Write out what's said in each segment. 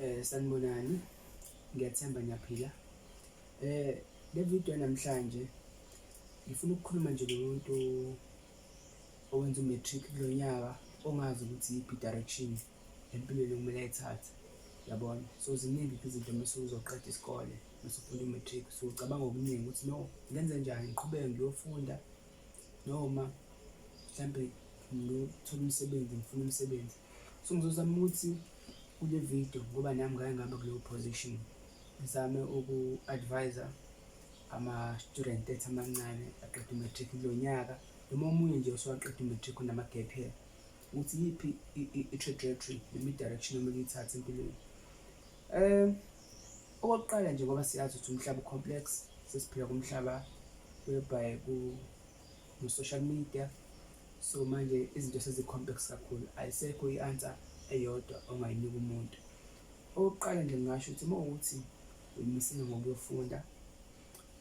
Eh sanibonani. Ngiyathemba niyaphila. Eh le video namhlanje ngifuna ukukhuluma nje nomuntu owenza umatric kulo nyaka ongazi ukuthi iyiphi direction empilweni okumele ayithathe. Yabona? So ziningi izinto mase uzoqeda isikole. usufunda umatric so ucabanga okuningi ukuthi no ngenze njani ngiqhubeke ngiyofunda noma mhlampe ngiyothola umsebenzi ngifuna umsebenzi so ngizozama ukuthi kule video ngoba nami ngake ngaba kuleyo position ngizame uku-advisa ama-student ethi amancane aqeda umatric kulo nyaka noma omunye nje osewaqeda umatric unama-gap here ukuthi yiphi i-trajectory noma i-direction omele uyithathe empilweni um Okokuqala nje ngoba siyazi ukuthi umhlaba u-complex sesiphila kumhlaba whereby ku-social media so manje izinto sezi-complex kakhulu ayisekho i-answer eyodwa ongayinika umuntu okokuqala nje ngingasho ukuthi uma ukuthi uyimisile ngokuyofunda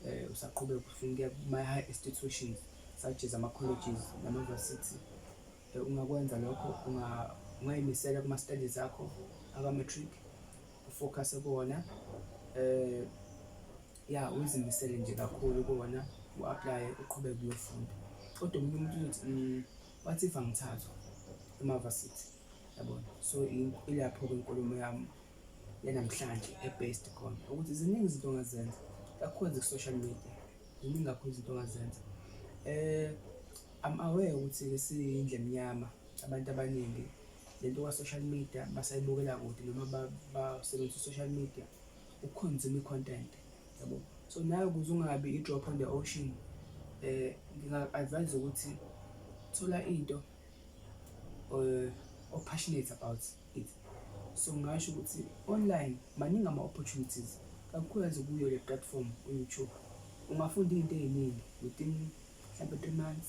um usaqhubeka ufunda kuma-high institutions such as ama-colleges nama-university um ungakwenza lokho ungayimisela kuma-studies akho aka-matric Focus kubona eh ya uzimisele nje kakhulu kubona u-apply uqhubeke kuyofunda kodwa umuntu umuntu uzothi mm, what if angithathwa emavasithi yabona so ilapho-ke inkulumo yami yanamhlanje e-based khona ukuthi ziningi izinto ongazenza kakhulu ku-social media ziningi kakhulu izinto ongazenza um eh, am aware ukuthi-ke siyindle mnyama abantu abaningi lento kwa-social media basayibukela kude noma basebenzisa i-social media ukukhonzima i-content yabo so nayo ukuze ungabi i-drop on the ocean eh nginga-advise ukuthi thola into eh o-passionate about it so ngingasho ukuthi online maningi ama-opportunities kakhulukazi kuyo le platform u-youtube ungafunda iy'nto ey'ningi within mhlawumbe three months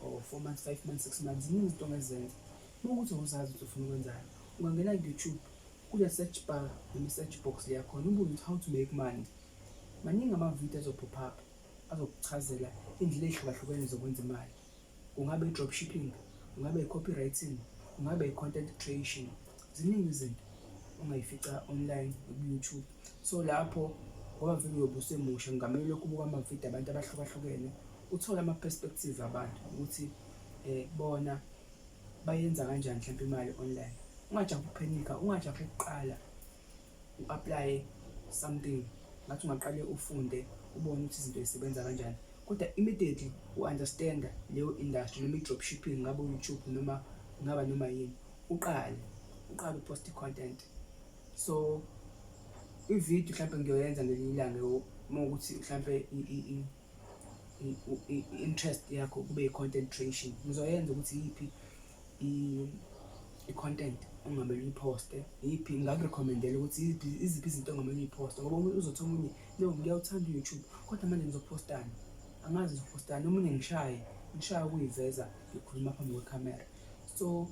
or four months five months six months ziningi izinto ongezenza uma ukuthi awuzazi ukuthi ufuna ukwenzani ungangena ku-youtube kule search bar noma i-search box leyakhona ubuze ukuthi how to make money maningi amavidiyo azophop up azokuchazela indlela ey'hlukahlukene zokwenza imali kungabe i-drop shipping kungabe i-copywriting kungabe i-content creation ziningi izinto ongayifica online ku-youtube so lapho ngoba vele uyobe usemusha ngingamele lokhu ubuka amavidiyo abantu abahlukahlukene uthole ama-perspective abantu ukuthi um bona bayenza kanjani mhlawumpe imali online ungajahi ukuphenika ungajahi ukuqala u-aplaye something ngathi ungaqale ufunde ubone ukuthi izinto zisebenza kanjani kodwa immediately u-understanda leyo industry noma i-drop shipping ngabe u-youtube noma ngaba noma yini uqale uqale upost content so ivideo mhlawumbe ngiyoyenza ngelinye ilanga uma ukuthi mhlawumbe i-interest yakho kube i-content creation ngizoyenza ukuthi yiphi i-content ongamele uyiposte yiphi ngakurekhomendela ukuthi iziphi izinto ongamele uyiposte ngoba omunye uzothi omunye no ngiyawuthanda u-youtube kodwa manje ngizopostani angazi ngizopostani omunye ngishaye ngishaye ukuyiveza ngikhuluma phambi kwekhamera so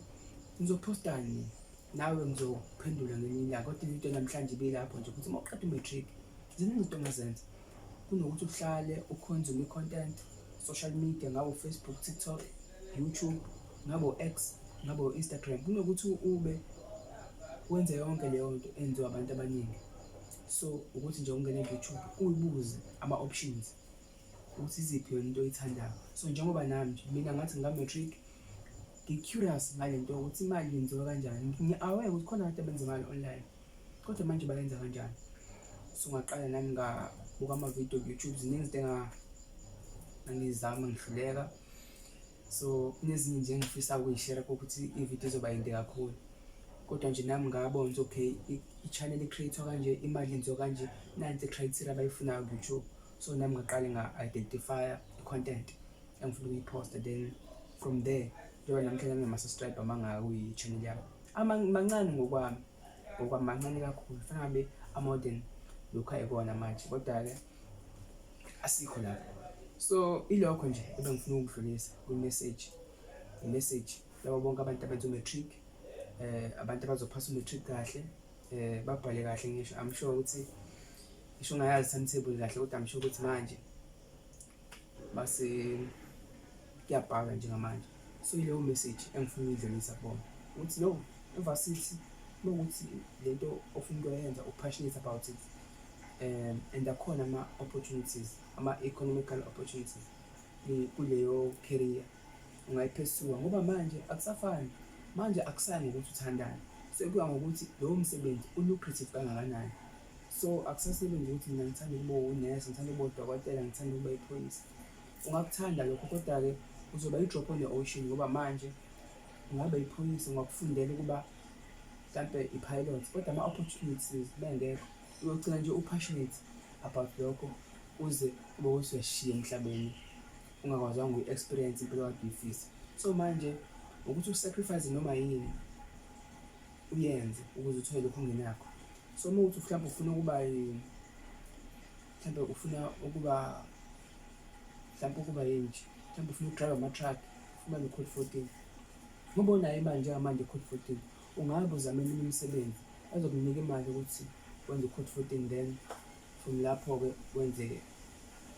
ngizophostani nawe ngizophendula ngenye ilanga kodwa into namhlanje ibelapho nje ukuthi uma uqeda umatric ziningi into ongazenza kunokuthi uhlale ukhonzume i-content social media ngabo facebook tiktok youtube ngabo x ngabo instagram kunokuthi ube wenze yonke leyo nto enziwa abantu abaningi so ukuthi nje ungene ku-youtube uyibuze ama-options ukuthi iziphi yona into oyithandayo so njengoba nami nje mina ngathi ngika-matric ngi-curious ngale nto ukuthi imali yenziwa kanjani ngi-aware ukuthi khona abantu abenza imali online kodwa manje bayenza kanjani so ngaqala nami ngabuka amavidiyo ku-youtube ziningi izinto engangizama ngihluleka so kunezinye nje engifisa ukuyishera kokuthi ividiyo izoba yinde kakhulu kodwa nje nami ngabona ukuthi okay i-channel i-creatwa kanje imali yenziwa kanje nanti i-criteria abayifunayo ku-youtube so nami ngaqale nga-identifya i-content engifuna ukuyiposta then from there njengoba namhlanje nginama-subscribe amangaka kuyi-channel yami mancane ngokwami ngokwami mancane kakhulu fanele ngabe amodern lokhu ayikona manje kodwa-ke asikho lapho so ilokho nje ebengifuna ukudlulisa kwi-message i-message labo bonke abantu abenza u-matric um abantu abazophasa u-matric kahle um babhale kahle ngisho i'm sure ukuthi ngisho ungayazi timetable kahle kodwa ngisho ukuthi manje base kuyabhala njengamanje so ileyo message engifuna uyidlulisa kubona ukuthi no emva sithi lokuthi lento ofuna ukuyenza upassionate about it um and akhona ama-opportunities ama-economical opportunities kuleyo career ungayiphesuka ngoba manje akusafani manje akusani ngokuthi uthandane sekuya ngokuthi lowo msebenzi ulucrative kangakanani so akusasile nje ukuthi mina ngithanda ukuba unesi ngithanda ukuba udokotela ngithanda ukuba iphoyisa ungakuthanda lokho kodwa-ke uzoba i-drop on the ocean ngoba manje ungabe iphoyisa ungakufundela ukuba mhlampe i-pilot kodwa ama-opportunities bengekho uyogcina nje u-passionate about lokho uze ube usuyashiya emhlabeni ungakwazanga uyi-experience impilo kade uyifisa so manje ukuthi usacrifice noma yini uyenze ukuze uthole lokhu ungenakho so uma uthi mhlawumbe ufuna ukuba mhlawumbe ufuna ukuba mhlawumbe ukuba yini nje mhlawumbe ufuna ukudrive ama-truck ufumane ucode fourteen ngoba unayo imali njengamanje code fourteen ungabe uzama eminye imisebenzi azokunika imali ukuthi wenze ucode fourteen then from lapho-ke wenze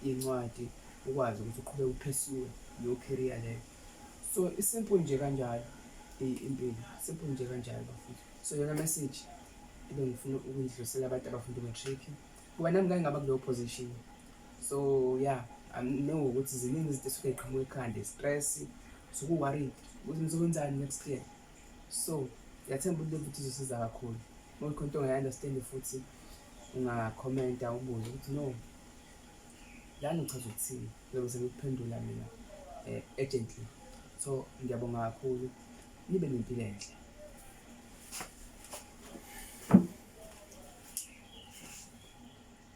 incwadi ukwazi ukuthi uqhubeke uphesiwe leyo career leyo so isimple nje kanjalo impilo simple nje kanjalo bafuthi so yona message ibe ngifuna ukundidlulisela abantu abafunda umatric ngoba nami ngangingaba kuleyo position so ya anginenge ukuthi ziningi izinto esuke ziqhamuka ekhanda i-stress suku-worried ukuthi ngizokwenzani next year so ngiyathemba ukuthi ukuthi izosiza kakhulu uma khona into ongayi-understand futhi ungakhomenta ubuze ukuthi no lani uchaza ukuthini ngizobe sengikuphendula mina um urgently so ngiyabonga kakhulu nibe nempilo enhle.